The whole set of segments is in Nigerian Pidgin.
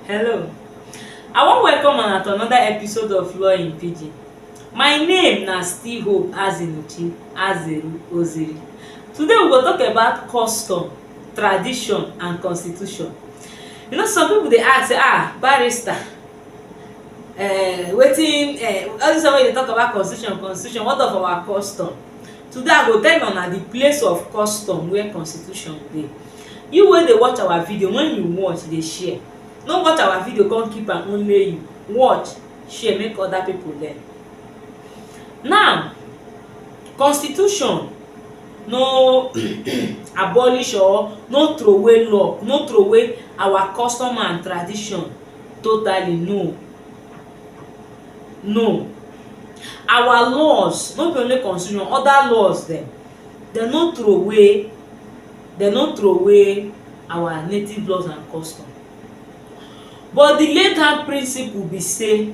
Hello, I wan welcome una to another episode of Law in Pidgin. My name na still Hope Azinuchi Azeru Oziri. Today we go talk about custom, tradition and constitution. You know some people dey ask say ah barrister uh, wetin uh, all this one wey you dey talk about constitution constitution what of our custom? Today I go tell una the place of custom where constitution dey. You wey dey watch our video, when you watch dey share. No watch our video come keep am only you. Watch, share make other people learn. Now, constitution no abolish or no throway law, no throway our custom and tradition totally, no. No. Our laws, no be only constitution, other laws dem, dem no throway dem no throway our native laws and custom. But the legal principle be sey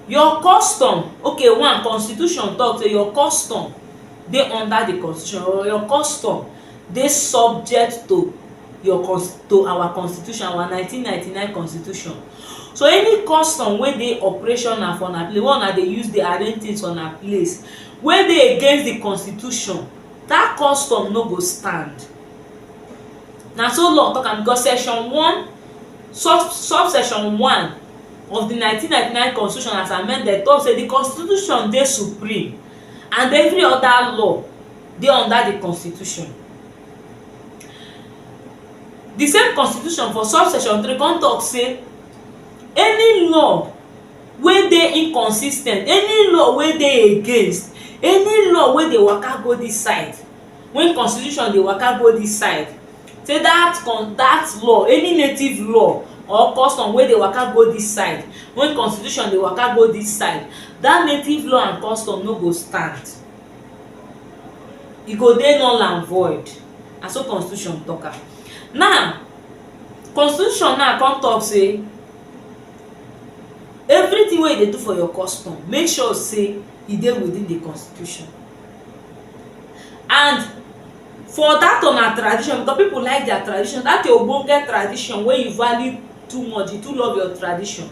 your custom, okay one constitution talk sey your custom dey under the constitution or your custom dey subject to your to our constitution our nineteen ninety nine constitution so any custom wey dey operational for una place wey una dey use dey arrange things for una place wey dey against the constitution that custom no go stand na so law talk am because section one sub sub section one of the nineteen ninety nine constitution as amended talk say the constitution dey supreme and every other law dey under di constitution di same constitution for subsection three come tok say any law wey dey inconsis ten t any law wey dey against any law wey dey waka go dis side wey constitution dey waka go dis side say dat con dat law any native law or custom wey dey waka go dis side wey constitution dey waka go dis side dat native law and custom no go stand e go dey null and void na so constitution talk am now constitution now come talk say everything wey you dey do for your custom make sure say e dey within the constitution and for that una tradition because people like their tradition that your ogbonge tradition wey you value too much you too love your tradition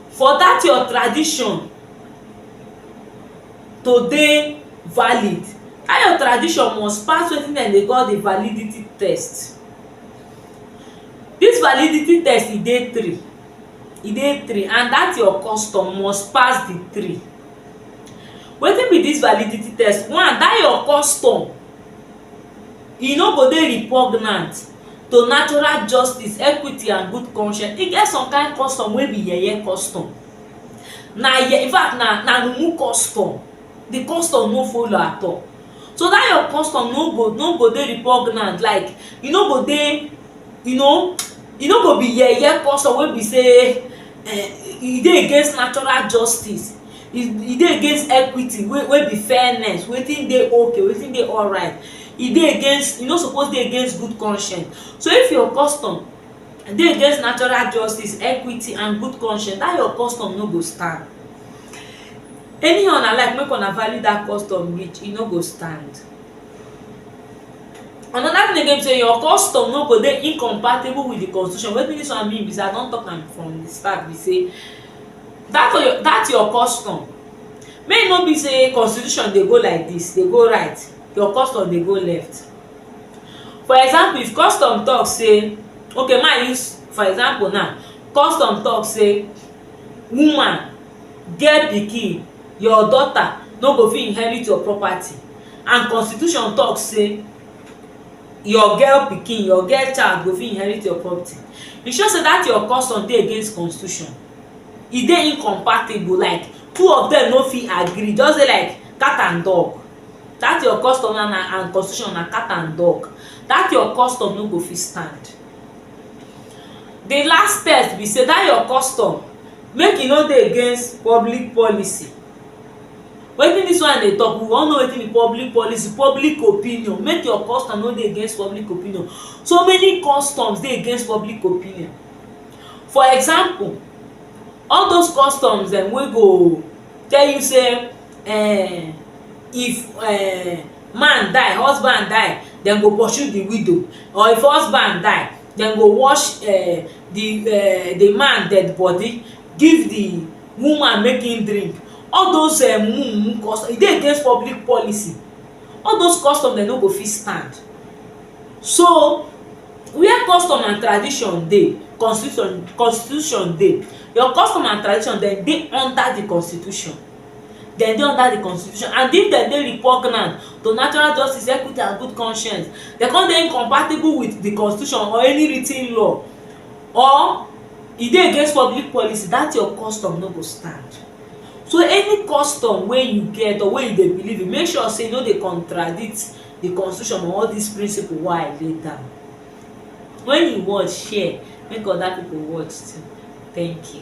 for that your tradition to dey valid dat your tradition must pass wetin dem dey call di validity test dis validity test e dey three e dey three and dat your custom must pass di three wetin be dis validity test one dat your custom e no go dey repugnant to natural justice equity and good conscience e get some kind custom wey be yeye custom na in fact na na mumu custom di custom no follow at all so dat your custom no go no go dey repugnant like e no go dey you know e no go be yeye custom wey be sey e dey against natural justice e dey against equity wey be fairness wetin dey ok wetin dey alright e dey against e no suppose dey against good conscience so if your custom dey against natural justice, equity and good conscience, dat your custom no go stand. Anyhow una like make una value dat custom reach, e no go stand. Another thing again be sey your custom no go dey incompatible with the constitution. Wetin dis one mean be sey I don talk am from the start be sey dat your dat your custom make e no be sey constitution dey go like dis, dey go right, your custom dey go left. For example if custom talk say ok make I use for example now custom talk say woman get pikin your daughter no go fit inherit your property and constitution talk say your girl pikin your girl child go fit inherit your property e show say that your custom dey against constitution e dey incompatible like two of them no fit agree just dey like cat and dog That your custom na na and constitution na cat and dog that your custom no go fit stand the last test be say that your custom make e no dey against public policy wetin this one dey talk we wan know wetin be public policy public opinion make your custom no dey against public opinion so many customs dey against public opinion for example all those customs dem wey go tell you say um if um man die husband die dem go pursue di widow or if husband die dem go wash um di um di man dead bodi give di woman make im drink all those um mumu custom e dey against public policy all those custom dem no go fit stand so where custom and tradition dey constitution constitution dey your custom and tradition dem dey under di constitution dem dey under di constitution and if dem dey repugnant to natural justice, equity and good conscience dem come dey incompatible wit di constitution or any writ ten law or e dey against public policy dat your custom no go stand so any custom wey you get or wey you dey believe in make sure sey e no dey contradict di constitution or all dis principle wey I lay down wen you watch share make oda pipo watch too thank you.